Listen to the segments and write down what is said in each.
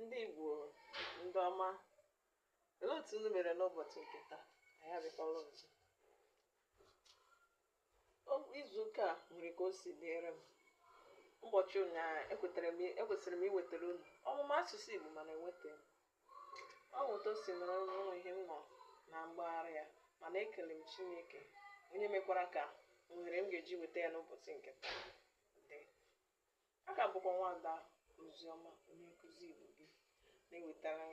ndị Igbo ndị ọma olee otu unu mere n'ụbọchị nke taa anyị abịakwala ọzọ O- izu ụka a nwere ka o si dịrị m ụbọchị ụnyaahụ ekwetara m ekwesịrị m iwetara unu ọmụma asụsụ Igbo mana ewetaghị m ọ bụ otu o si nọrọ n'ụlọ ihe m nọ na mgbagharị ya mana ekele m Chineke onye mekwara ka ohere m ga-eji weta ya n'ụbọchị nke taa dị a ka bụkwa nwada oziọma onye nkụzi igbo gị na-ewetara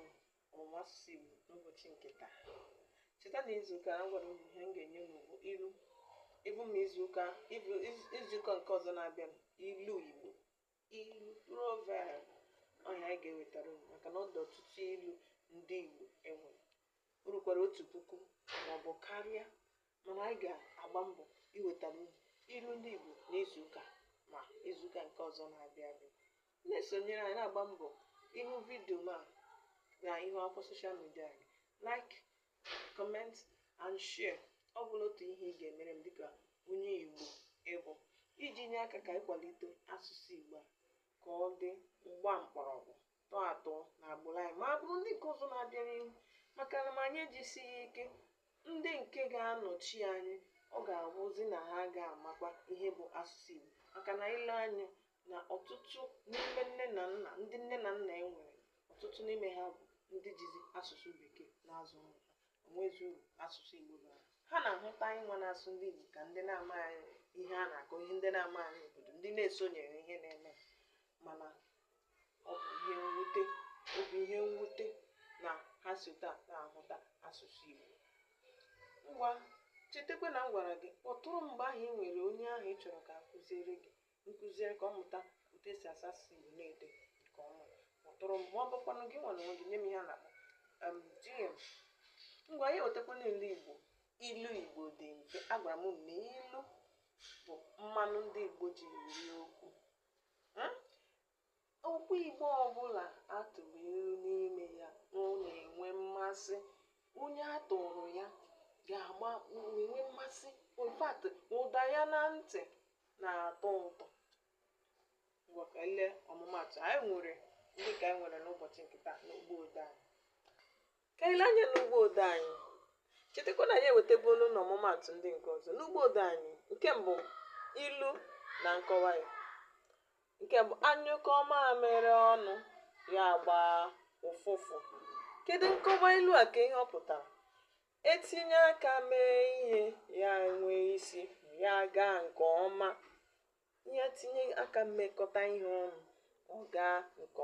ọmụmụ asụsụ igbo n'ụbọchị nke taa cheta na izuụka a gwara unu ihe m ga-enye unu bụ ilu igbo ma izuụka ịbụ iz- izuụka nke ọzọ na-abịa ilu igbo ilu proverb ọ ya anyị ga-ewetara unu maka na ọ dị ọtụtụ ilu ndị igbo e nwere o rukwara otu puku maọbụ karịa Mana anyị ga-agba mbọ iwetara unu ilu ndị Igbo n'izuụka ma izuụka nke ọzọ na-abịa abịa. Na-esonyere anyị na-agba mbọ ịhụ vidio ma na ihu akwụkwọ soshal midia anyị. Like, comment and share. Ọ bụla otu ihe ị ga-emere m dịka onye Igbo ị bụ iji nye aka ka ị kwalite asụsụ Igbo a ka ọ dị ma gbaa mkpọrọgwụ tọọ atọ na agbụrụ anyị ma agbụrụ ndị nke ọzọ na-abịa n'ihu maka na ma anyị ejisighị ike ndị nke ga-anọchi anyị ọ ga-abụzi na ha ga-amakwa ihe bụ asụsụ Igbo maka na i lee anya na ọtụtụ n'ime nne na nna ndị nne na nna e nwere ọtụtụ n'ime ha bụ ndị jizi asụsụ bekee na-azụ ụmụ ha o nwezi uru asụsụ Igbo bara ha na-ahụta anyị nwa na-asụ ndị Igbo ka ndị na-amaghị ihe a na-akọ ihe ndị na-amaghị obodo ndị na-esonyeghị ihe na-eme mana ọ bụ ihe mwute ọ bụ ihe mwute na ha si otu a na-ahụta asụsụ Igbo ngwa chetakwa na m gwara gị kpọtụrụ m mgbe ahụ ị nwere onye ahụ ị chọrọ ka a kụziere gị m kụziere ka ọ mụta otu e si asụ asụsụ Igbo na-ede nke ọma kpọtụrụ m ma ọ bụkwanụ gị nwa n'onwe gị nye m ihe a na-akpọ em, DM ngwa ya wetakwa na ilu Igbo ilu Igbo dị mfe agwara m unu na ilu bụ mmanụ ndị Igbo ji eri okwu Okwu Igbo ọbụla a tụrụ ilu n'ime ya ọ na-enwe mmasị. Onye a tụụrụ ya ga-agba na-enwe mmasị. In fact, ụda ya na ntị na-atọ ụtọ. Ngwa ka anyị lee ọmụmaatụ anyị nwere ndị ka anyị nwere n'ụbọchị nke taa n'ugbo odee anyị. Ka anyị lee anya n'ugbo odee anyị. Chetakwa na anyị ewetabuolu n'ọmụmaatụ ndị nke ọzọ. N'ugbo odee anyị, nke mbụ, ilu na nkọwa ya. Nke mbụ, a nyụkọọ mamịrị ọnụ, ya agbaa ụfụfụ. Kedu nkọwa ilu a? Kee ihe ọ pụtara? E tinye aka mee ihe, ya enwee isi, ya agaa nke ọma. E tinye aka mekọta ihe ọnụ, ọ gaa nke ọma.